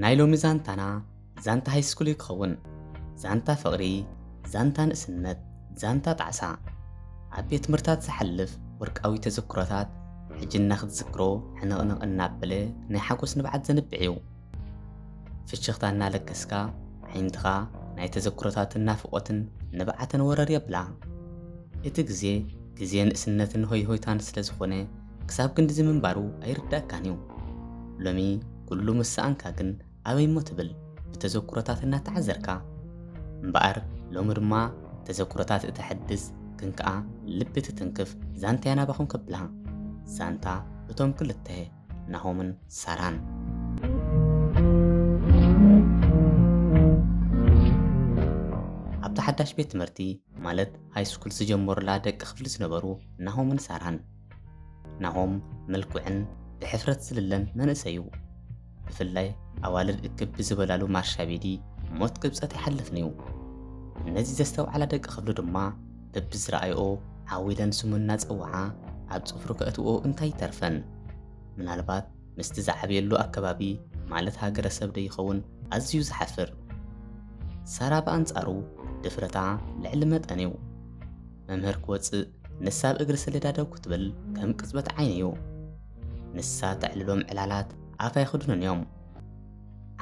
ናይ ሎሚ ዛንታና ዛንታ ሃይስኩል እዩ ክኸውን። ዛንታ ፍቕሪ፣ ዛንታ ንእስነት፣ ዛንታ ጣዕሳ። ኣብ ቤት ትምህርታት ዝሓልፍ ወርቃዊ ተዘክሮታት ሕጂ እናክትዝክሮ ሕንቕንቕ እናበለ ናይ ሓጎስ ንብዓት ዘንብዕ እዩ። ፍሽኽታ እናለገስካ ዓይንትኻ ናይ ተዘክሮታትን ናፍቖትን ንብዓትን ወረር የብላ። እቲ ግዜ ግዜ ንእስነትን ሆይሆይታን ስለ ዝኾነ ክሳብ ክንድዚ ምንባሩ ኣይርደኣካን እዩ። ሎሚ ኩሉ ምስ ሰኣንካ ግን ኣበይ እሞ ትብል ብተዘኩሮታት እናተዓዘርካ። እምበኣር ሎሚ ድማ ተዘኩሮታት እተሐድስ ግን ከኣ ልቢ እትትንክፍ ዛንታ'ያ ናባኹም ከብላ። ዛንታ እቶም ክልተ ናሆምን ሳራን። ኣብታ ሓዳሽ ቤት ትምህርቲ ማለት ሃይስኩል ዝጀመሩላ ደቂ ክፍሊ ዝነበሩ ናሆምን ሳራን። ናሆም ምልኩዕን ብሕፍረት ዝልለን መንእሰይ'ዩ። ብፍላይ ኣዋልድ እክብ ብዝበላሉ ማርሻቤዲ ሞት ቅብጸት ኣይሓለፍን'ዩ። ነዚ ዘስተውዓላ ደቂ ክብሉ ድማ በብዝረኣይኦ ዓው ኢለን ስሙ እናጸውዓ ኣብ ጽፍሩ ከእትውኦ እንታይ ይተርፈን። ምናልባት ምስቲ ዝዓበየሉ ኣከባቢ ማለት ሃገረሰብ ዶ ይኸውን ኣዝዩ ዝሓፍር። ሳራ ብኣንጻሩ ድፍረታ ልዕሊ መጠን'ዩ። መምህር ክወጽእ ንሳ ኣብ እግሪ ሰሌዳ ደው ክትብል ከም ቅጽበት ዓይኒ እዩ። ንሳ ተዕልሎም ዕላላት ኣፍ ኣይኽድኑን እዮም።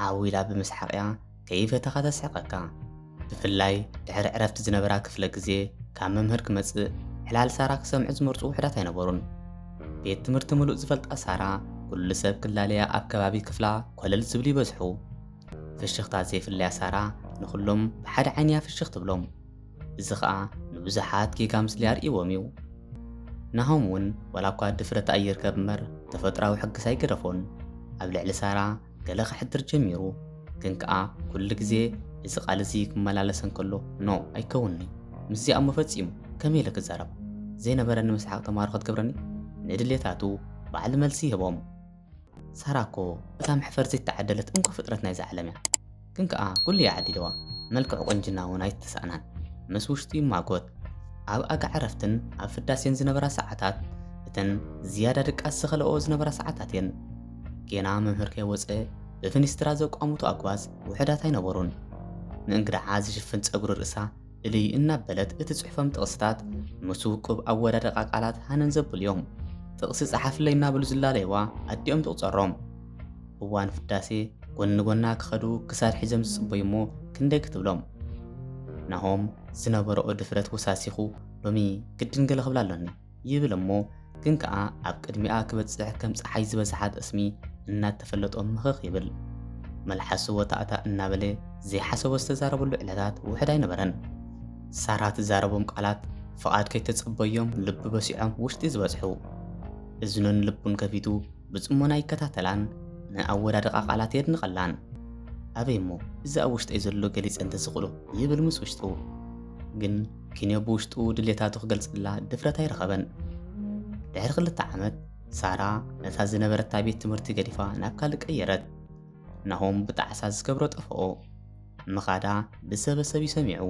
ዓው ኢላ ብምስሓቕ እያ ከይፈተኻ ተስሕቀካ። ብፍላይ ድሕሪ ዕረፍቲ ዝነበራ ክፍለ ግዜ ካብ መምህር ክመጽእ ዕላል ሳራ ክሰምዑ ዝመርጹ ውሕዳት ኣይነበሩን። ቤት ትምህርቲ ምሉእ ዝፈልጣ ሳራ ኩሉ ሰብ ክላለያ ኣብ ከባቢ ክፍላ ኮለል ዝብሉ ይበዝሑ። ፍሽኽታ ዘይፍለያ ሳራ ንኹሎም ብሓደ ዓይኒ እያ ፍሽኽ ትብሎም። እዚ ኸኣ ንብዙሓት ጌጋ ምስሊ ኣርእይዎም እዩ። ናሆም እውን ዋላ እኳ ድፍረት ኣይርከብ እምበር ተፈጥሮኣዊ ሕግስ ኣይገደፎን። ኣብ ልዕሊ ሳራ ገለ ከሕድር ጀሚሩ። ግን ከኣ ኩሉ ግዜ እዚ ቃል እዚ ክመላለሰ እንከሎ ኖእ ኣይከውንን'ዩ። ምስዚ ኣሞ ፈጺሙ ከመይ ኢለ ክዛረብ? ዘይነበረኒ ምስሓቕ ተማሃሮ ክትገብረኒ? ንድሌታቱ ባዕሉ መልሲ ይህቦም። ሳራ እኮ እታ መሕፈር ዘይተዓደለት እንኮ ፍጥረት ናይዛ ዓለም እያ ግን ከኣ ኩሉ እያ ዓዲልዋ መልክዕ ቁንጅና ውን ኣይተሳእናን ምስ ውሽጡ ይማጎት ኣብ ኣጋ ዕረፍትን ኣብ ፍዳሴን ዝነበራ ሰዓታት እተን ዝያዳ ድቃስ ዝኸለኦ ዝነበራ ሰዓታት እየን ጌና መምህር ከይወፀ ብፍኒስትራ ዘቋሙቱ ኣጓዝ ውሕዳት ኣይነበሩን ንእንግድዓ ዝሽፍን ፀጉሪ ርእሳ ፍልይ እናበለት እትጽሕፎም ጥቕስታት ምስ ውቁብ ኣወዳድቓ ቃላት ሃነን ዘብሉ'ዮም። ጥቕሲ ጸሓፍለይ እናበሉ ዝላለዩዋ ኣዲኦም ትቑጸሮም። እዋን ፍዳሴ ጎኒ ጎና ክኸዱ ክሳድ ሒዞም ዝጽበዩ'ሞ ክንደይ ክትብሎም። ናሆም ዝነበርኦ ድፍረት ወሳሲኹ ሎሚ ግድን ገለ ክብላ ኣሎኒ። ይብል እሞ ግን ከኣ ኣብ ቅድሚኣ ክበጽሕ ከም ጸሓይ ዝበዝሓ ጠስሚ እናተፈለጦ ምኽኽ ይብል። መልሓሱ ወታእታእ እናበለ ዘይሓሰቦ ዝተዛረበሉ ዕለታት ውሑድ ኣይነበረን። ሳራ ትዛረቦም ቃላት ፍቓድ ከይተጸበዮም ልቡ በሲዖም ውሽጢ ዝበጽሑ። እዝኑን ልቡን ከፊቱ ብጽሞና ይከታተላን ንኣወዳድቓ ቃላት የድንቐላን። ኣበይ እሞ እዚ ኣብ ውሽጠይ ዘሎ ገሊጸ እንተዝኽእሎ ይብል ምስ ውሽጡ። ግን ኪንዮ ብውሽጡ ድሌታቱ ክገልጸላ ድፍረት ኣይረኸበን። ድሕሪ ክልተ ዓመት፣ ሳራ ነታ ዝነበረታ ቤት ትምህርቲ ገዲፋ ናብ ካልእ ቀየረት። ናሆም ብጣዕሳ ዝገብሮ ጠፍኦ። ምኻዳ ብሰበሰብ እዩ ሰሚዑ።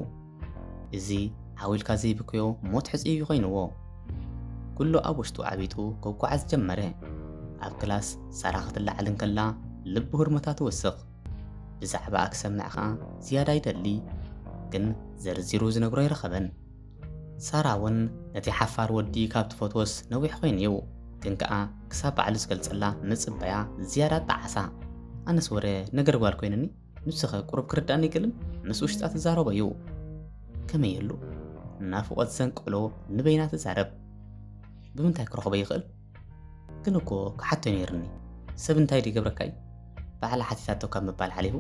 እዚ ዓው ኢልካ ዘይብክዮ ሞት ሕጹይ እዩ ኮይንዎ። ኩሉ ኣብ ውሽጡ ዓቢጡ ክጓዓዝ ጀመረ። ኣብ ክላስ ሳራ ክትለዓል እንከላ ልቡ ህርመታ ትውስኽ። ብዛዕባኣ ክሰምዕ ከኣ ዝያዳ ይደሊ፣ ግን ዘርዚሩ ዝነግሮ ኣይረኸበን። ሳራ ውን ነቲ ሓፋር ወዲ ካብ ትፈትዎስ ነዊሕ ኮይኑ'ዩ፣ ግን ከኣ ክሳብ ባዕሉ ዝገልጸላ ምጽባያ ዝያዳ ኣጣዓሳ። ኣነስ ወረ ነገር ጓል ኮይኑኒ፣ ንሱ'ኸ ቁሩብ ክርድኣኒ ግልም ምስ ውሽጣ ትዛረቦ'ዩ። ከመይ'ሉ ናፍቖት ዘንቀሎ ንበይና ትዛረብ። ብምንታይ ክረኽቦ ይኽእል? ግን እኮ ክሓቶ ነይርኒ ሰብ እንታይ ዶ ይገብረካ እዩ ባዕላ ሓቲታቶ ካብ ምባል ሓሊፉ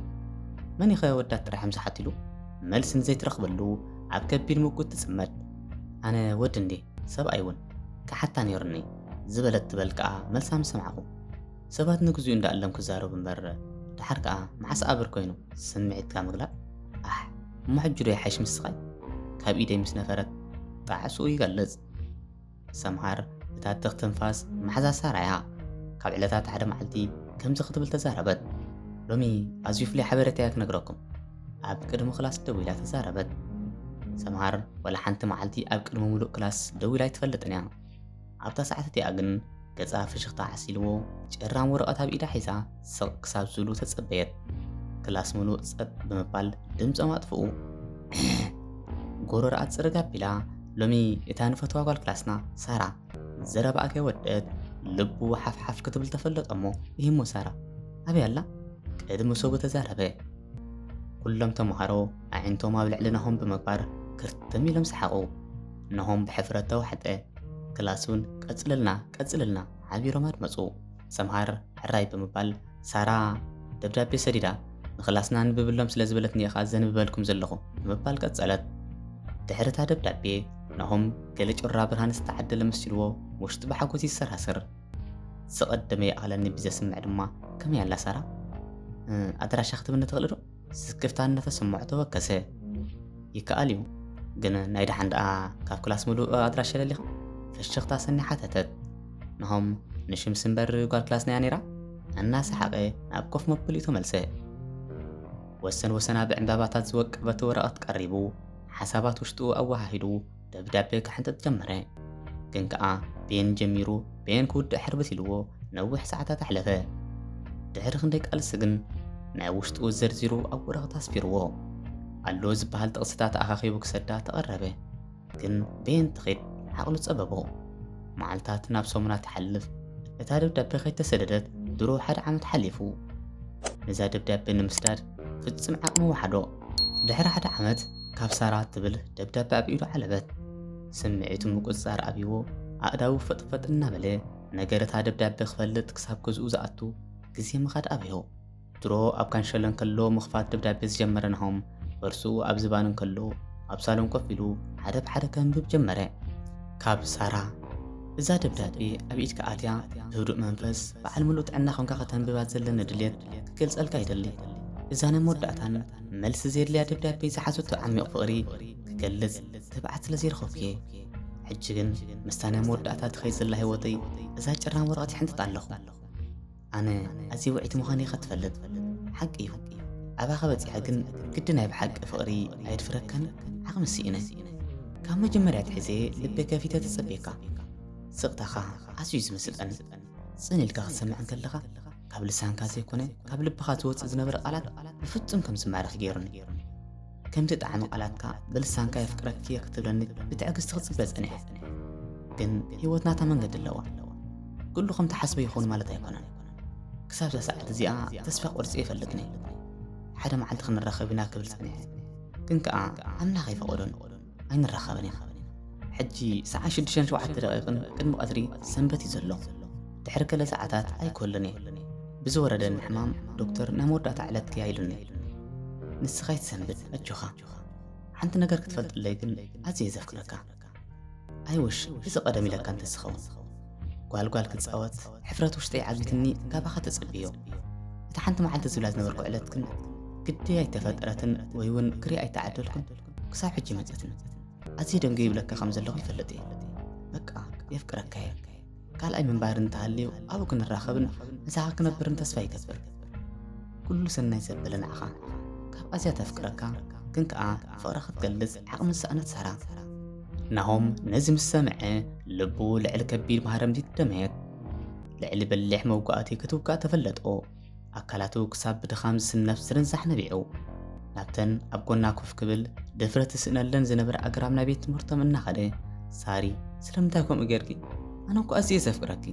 መን ኢኸ ወዳት ጥራሕም ዝሓትሉ መልሲ ንዘይትረኽበሉ ኣብ ከቢድ ምጉት ትጽመድ ኣነ ወዲ እንዴ ሰብኣይ እውን ክሓታ ነይርኒ ዝበለት ትበል ከዓ መልሳ ምስ ሰማዕኹ ሰባት ንግዚኡ እንዳእለም ክዛረቡ እምበር ድሓር ከዓ መሓስ ኣብር ኮይኑ ስምዒትካ ምግላእ ኣሕ እሞ ሕጂ ዶ ይሓይሽ ምስኻይ ካብ ኢደይ ምስ ነፈረት ጣዕስኡ ይገልጽ ሰምሃር እታ ትኽ ትንፋስ መሓዛ ሳራ እያ። ካብ ዕለታት ሓደ መዓልቲ ከምዚ ክትብል ተዛረበት። ሎሚ ኣዝዩ ፍሉይ ሓበሬታ እያ ክነግረኩም። ኣብ ቅድሚ ክላስ ደው ኢላ ተዛረበት። ሰምሃር ዋላ ሓንቲ መዓልቲ ኣብ ቅድሚ ምሉእ ክላስ ደው ኢላ ኣይትፈልጥን እያ። ኣብታ ሰዓት እቲኣ ግን ገጻ ፍሽኽታ ዓሲልዎ፣ ጭራም ወረቐት ኣብ ኢዳ ሒዛ ስቕ ክሳብ ዝብሉ ተጸበየት። ክላስ ምሉእ ጸጥ ብምባል ድምጾም ኣጥፍኡ። ጎረርኣ ጽርግ ኣቢላ፣ ሎሚ እታ ንፈትዋ ጓል ክላስና ሳራ ዘረባኣ ከይወደት ልቡ ሓፍሓፍ ክትብል ተፈለጦ እሞ ይህሞ ሳራ ኣበይ ኣላ ቅድሚ ሰቡ ተዛረበ። ኩሎም ተምሃሮ ኣዒንቶም ኣብ ልዕሊ ናሆም ብምግባር ክርትም ኢሎም ሰሓቑ። ናሆም ብሕፍረት ተዋሕጠ። ክላስ እውን ቀፅልልና ቀፅልልና ሓቢሮም ኣድመፁ። ሰምሃር ሕራይ ብምባል ሳራ ደብዳቤ ሰዲዳ ንክላስና ኣንብብሎም ስለ ዝበለትኒ ኢኻ ዘንብበልኩም ዘለኹ ብምባል ቀፀለት። ድሕሪ እታ ደብዳቤ ናሆም ገለ ጩራ ብርሃን ዝተዓደለ መሲልዎ ውሽጡ ብሓጎስ ይሰራስር። ዝቐደመ ይኣኽለኒ ብዘስምዕ ድማ ከመይ ኣላ ሳራ ኣድራሻ ክትብኒ ትኽእልዶ? ስክፍታ እናተሰምዖ ተወከሰ። ይከኣል እዩ፣ ግን ናይ ደሓን ደኣ ካብ ክላስ ምሉእ ኣድራሻ ደሊኻ? ፍሽኽታ ሰኒ ሓተተት። ናሆም ንሽምሲ እምበር ጓል ክላስና'ያ ነይራ? እናሰሓቐ ናብ ኮፍ መበሊኡ ተመልሰ። ወሰን ወሰና ብዕምባባታት ዝወቀበት ወረቐት ቀሪቡ ሓሳባት ውሽጡ ኣወሃሂዱ ደብዳቤ ክሕንጥጥ ጀመረ። ግን ከኣ ቤን ጀሚሩ ቤን ክውድእ ሕርብስ ኢልዎ ነዊሕ ሰዓታት ኣሕለፈ። ድሕሪ ክንደይ ቃልሲ ግን ናይ ውሽጡ ዘርዚሩ ኣብ ወረቐት ኣስፊርዎ ኣሎ ዝበሃል ጥቕስታት ኣኻኺቡ ክሰዳ ተቐረበ። ግን ቤን ትኺድ ዓቕሉ ጸበቦ። መዓልታት ናብ ሰሙናት ትሓልፍ። እታ ደብዳቤ ከይተሰደደት ድሮ ሓደ ዓመት ሓሊፉ። ነዛ ደብዳቤ ንምስዳድ ፍጹም ዓቕሚ ወሓዶ። ድሕሪ ሓደ ዓመት ካብ ሳራ እትብል ደብዳቤ ኣብ ኢዱ ዓለበት። ስምዒቱ ምቁፅፃር ኣብይዎ ኣእዳዉ ፈጥፈጥ እናበለ ነገር እታ ደብዳቤ ክፈልጥ ክሳብ ገዝኡ ዝኣቱ ግዜ ምኻድ ኣበዮ። ድሮ ኣብ ካንሸሎ እንከሎ ምኽፋት ደብዳቤ ዝጀመረ ናሆም በርሱኡ ኣብ ዝባን እንከሎ ኣብ ሳሎን ኮፍ ኢሉ ሓደ ብሓደ ከንብብ ጀመረ። ካብ ሳራ እዛ ደብዳቤ ኣብ ኢድካ ኣትያ ብህዱእ መንፈስ በዓል ምሉእ ጥዕና ኮንካ ከተንብባ ዘለኒ ድሌት ክገልጸልካ ይደሊ። እዛ ናይ መወዳእታን መልሲ ዘየድልያ ደብዳቤ ዝሓዘቶ ዓሚቕ ፍቕሪ ክገልጽ ትብዓት ስለ ዘይረኸብኩ'የ። ሕጂ ግን ምስታ ናይ መወዳእታ ትኸይድ ዘላ ህይወተይ እዛ ጭራም ወረቐት ይሕንጥጣ ኣለኹ። ኣነ ኣዝየ ውዕይቲ ምዃነይ ኸ ትፈልጥ ሓቂ እዩ ኣባኻ በጺሐ ግን ግዲ ናይ ብሓቂ ፍቕሪ ኣየድፍረካን ዓቕሚ ስኢነ ካብ መጀመርያ ትሕዘ ልበ ከፊተ ተጸብየካ ስቕታኻ ኣዝዩ ዝምስጠኒ ጽን ኢልካ ክትሰምዕ እንከለኻ ካብ ልሳንካ ዘይኮነ ካብ ልብኻ ዝወጽእ ዝነበረ ቃላት ብፍጹም ከም ዝማረኽ ገይሩኒ ከምቲ ጣዕሚ ቃላትካ ብልሳንካ የፍቅረኪ እየ ክትብለኒ ብትዕግስቲ ክጽበ ጸኒሐ። ግን ህይወት ናታ መንገዲ ኣለዋ። ኩሉ ከም ትሓስቦ ይኸውን ማለት ኣይኮነን። ክሳብ እዛ ሰዓት እዚኣ ተስፋ ቆርጸ ይፈልጥ ነይ። ሓደ መዓልቲ ክንራኸብ ኢና ክብል ጸኒሐ። ግን ከኣ ኣምላኽ ኣይፈቐዶን። ኣይንራኸብን ኢና። ሕጂ ሰዓት ሽዱሽተን ሸውዓተ ደቒቕን ቅድሚ ቀትሪ ሰንበት እዩ ዘሎ። ድሕሪ ገለ ሰዓታት ኣይኮልን እየ ብዝወረደኒ ሕማም ዶክተር ናይ መወዳእታ ዕለትኪ እያ ኢሉኒ። ንስኻ ኣይትሰንብድ ኣጆኻ። ሓንቲ ነገር ክትፈልጥለይ ግን ኣዝየ እየ ዘፍቅረካ። ኣይውሽ እዚ ቀደም ኢለካ እንተዝኸውን ጓልጓል ክጻወት ሕፍረት ውሽጠይ ዓጊትኒ ካባኻ ተጸብዮ እቲ ሓንቲ መዓልቲ ዝብላ ዝነበርኩ ዕለት ግን ግዲ ኣይተፈጠረትን ወይ እውን ክሪእ ኣይተዓደልኩን ክሳብ ሕጂ መጸትኒ ኣዝየ ደንገ ይብለካ ከም ዘለኹ ይፈልጥ እየ በቃ የፍቅረካ እየ ካልኣይ ምንባር እንተሃልዩ ኣብኡ ክንራኸብን ንሳኻ ክነብርን ተስፋ ይገብር ኩሉ ሰናይ ዘበለ ንዓኻ ካብ ኣዝያ ተፍቅረካ ግን ከዓ ፍቕራ ክትገልጽ ዓቕሚ ዝሰኣነት ሳራ ናሆም ነዚ ምስ ሰምዐ ልቡ ልዕሊ ከቢድ ማህረምቲ ደመየት ልዕሊ በሊሕ መውጋእቲ ክትውጋእ ተፈለጦ ኣካላቱ ክሳብ ብድኻም ዝስነፍ ዝርንዛሕ ነቢዑ፣ ናብተን ኣብ ጎና ኮፍ ክብል ድፍረት ዝስእነለን ዝነበረ ኣግራብ ናይ ቤት ትምህርቶም እናኸደ፣ ሳሪ ስለምንታይ ከምኡ ጌርኪ? ኣነ እኮ ኣዝየ ዘፍቅረኪ።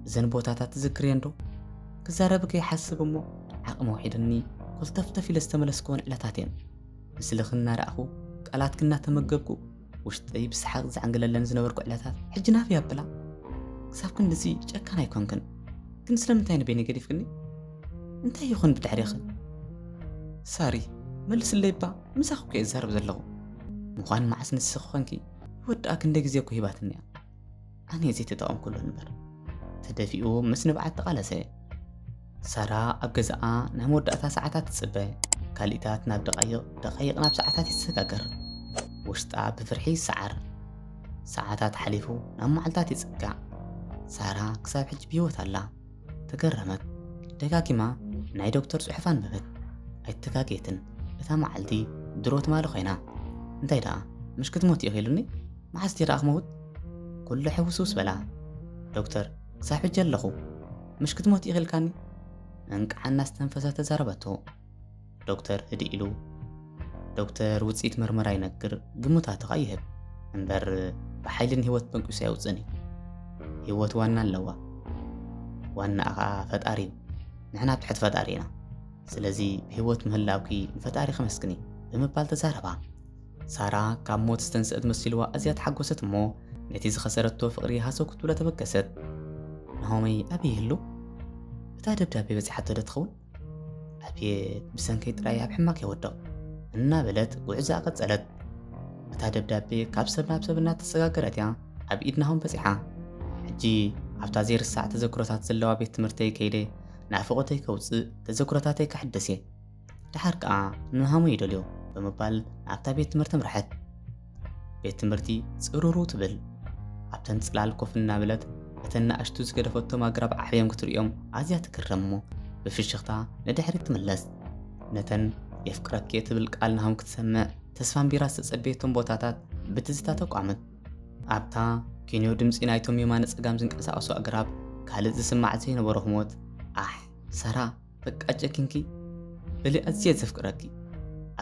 እዘን ቦታታት ትዝክርየን ዶ? ክዛረብኪ ይሓስብ እሞ ዓቕሚ ውሒድኒ ኮልተፍተፍ ኢለ ዝተመለስክወን ዕለታት እየን። ምስልኺ እናረኣኹ ቃላትኪ እናተመገብኩ ውሽጠይ ብሰሓቕ ዝዓንግለለን ዝነበርኩ ዕለታት ሕጂ ናፍ ያብላ ክሳብ ክንድዚ ጨካን ኣይኮንክን ግን ስለምንታይ ንበይኒ ገዲፍክኒ እንታይ ይኹን ብድሕሪኺ ሳሪ መልስለይ እባ ምሳኺ እኮ እየ ዝዛረብ ዘለኹ ምዃን መዓስ ንስኺ ኮንኪ ይወድኣ ክንደይ ግዜ እኮ ሂባትኒ እያ ኣነ ዘይተጠቐምኩሉ እምበር ተደፊኡ ምስ ንብዓት ተቓለሰ ሳራ ኣብ ገዛኣ ናይ መወዳእታ ሰዓታት ትጽበ ካልኢታት ናብ ደቓይቕ ደቓይቕ ናብ ሰዓታት ይሰጋገር ውሽጣ ብፍርሒ ይሰዓር ሰዓታት ሓሊፉ ናብ መዓልታት ይጽጋዕ ሳራ ክሳብ ሕጂ ብህይወት ኣላ ተገረመት ደጋጊማ ናይ ዶክተር ጽሑፍ ኣንበበት ኣይተጋጌትን እታ መዓልቲ ድሮ ትማሊ ኮይና እንታይ ደኣ ምሽ ክትሞት ኢኺሉኒ መዓስ ዲኻ ክመውት ኩሉ ሕውስውስ በላ ዶክተር ክሳብ ሕጂ ኣለኹ ምሽ ክትሞት ኢኺ ኢልካኒ እንቃዓ እናስተንፈሰት ተዛረበቶ ዶክተር ህድእ ኢሉ ዶክተር ውፅኢት ምርመራ ይነግር ግምታትኻ ይህብ እምበር ብሓይሊ ንህይወት በንቂሱ ኣየውፅእን እዩ ህይወት ዋና ኣለዋ ዋናኣ ከዓ ፈጣሪ እዩ ንሕና ትሕቲ ፈጣሪ ኢና ስለዚ ብህይወት ምህላውኪ ንፈጣሪ ከመስግኒ ብምባል ተዛረባ ሳራ ካብ ሞት ዝተንስእት መሲልዋ ኣዝያ ተሓጎሰት እሞ ነቲ ዝኸሰረቶ ፍቕሪ ሃሰው ክትብሎ ተበገሰት። ናሆመይ ኣበይ ይህሉ? እታ ደብዳቤ በጺሓቶ ዶ ትኸውን? ኣቤት ብሰንከይ ጥራይ ኣብ ሕማቕ የወድቕ እናበለት ጉዕዛ ቀጸለት። እታ ደብዳቤ ካብ ሰብ ናብ ሰብ እናተሰጋገረት እያ ኣብ ኢድ ናሆም በጺሓ። ሕጂ ኣብታ ዘይርሳዕ ተዘክሮታት ዘለዋ ቤት ትምህርተይ ከይደ ናፍቖተይ ከውጽእ ተዘክሮታተይ ከሕደስ እየ ደሓር ከኣ ንሃሙ ይደልዮ ብምባል ናብታ ቤት ትምህርቲ ኣምርሐት። ቤት ትምህርቲ ጽሩሩ ትብል። ኣብተን ጽላል ኮፍ እናበለት እተን ንኣሽቱ ዝገደፈቶም ኣግራብ ዓብዮም ክትርእዮም ኣዝያ ትግረም እሞ ብፍሽኽታ ንድሕሪት ትምለስ። ነተን የፍቅረኪ እትብል ቃል ንሃሙ ክትሰምዕ ተስፋ ኣንቢራ ዝተጸበየቶም ቦታታት ብትዝታ ተቋመት። ኣብታ ኪንዮ ድምጺ ናይቶም የማነ ጸጋም ዝንቀሳቐሱ ኣግራብ ካልእ ዝስማዕ ዘይነበሮ ህሞት ኣሕ ሰራ በቃ ጨኪንኪ በሊ ኣዝየ ዘፍቅረኪ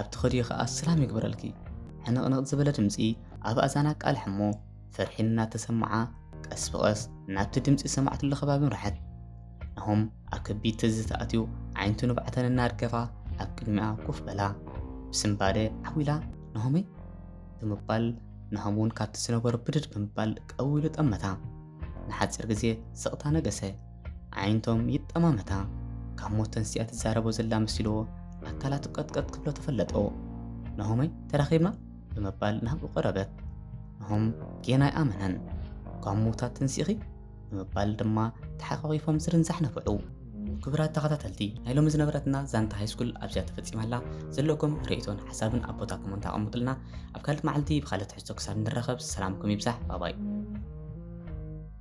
ኣብ ትኸድዮ ከኣ ሰላም ይግበረልኪ ሕንቕንቕ ዝበለ ድምፂ ኣብ ኣዛና ኣቃልሕ እሞ ፍርሒ እናተሰማዓ ቀስ ብቐስ ናብቲ ድምፂ ሰማዕትሉ ከባቢ ምርሐት ናሆም ኣብ ከቢድ ትዝታ ኣትዩ ዓይንቱ ንብዓተን እናርገፋ ኣብ ቅድሚኣ ኮፍ በላ ብስምባደ ዓዊላ ናሆመይ ብምባል ናሆም እውን ካብቲ ዝነበሮ ብድድ ብምባል ቀዊሉ ጠመታ ንሓፂር ግዜ ስቕታ ነገሰ ኣዒንቶም ይጠማመታ። ካብ ሞት ተንሲኣ ትዛረቦ ዘላ መሲልዎ ኣካላቱ ቀጥቀጥ ክብሎ ተፈለጦ። ናሆመይ ተራኺብና? ብምባል ናብኡ ቀረበት። ናሆም ጌና ኣይኣመነን። ካብ ምውታት ተንሲእኺ? ብምባል ድማ ተሓቋቒፎም ዝርንዛሕ ነፈዑ። ክቡራት ተኸታተልቲ ናይ ሎሚ ዝነበረትና ዛንታ ሃይስኩል ኣብዚኣ ተፈፂማ ኣላ። ዘለኩም ርእይቶን ሓሳብን ኣብ ቦታ ኮመንት ኣቐምጡልና። ኣብ ካልእ መዓልቲ ብካልእ ትሕዝቶ ክሳብ ንራኸብ ሰላምኩም ይብዛሕ። ባባይ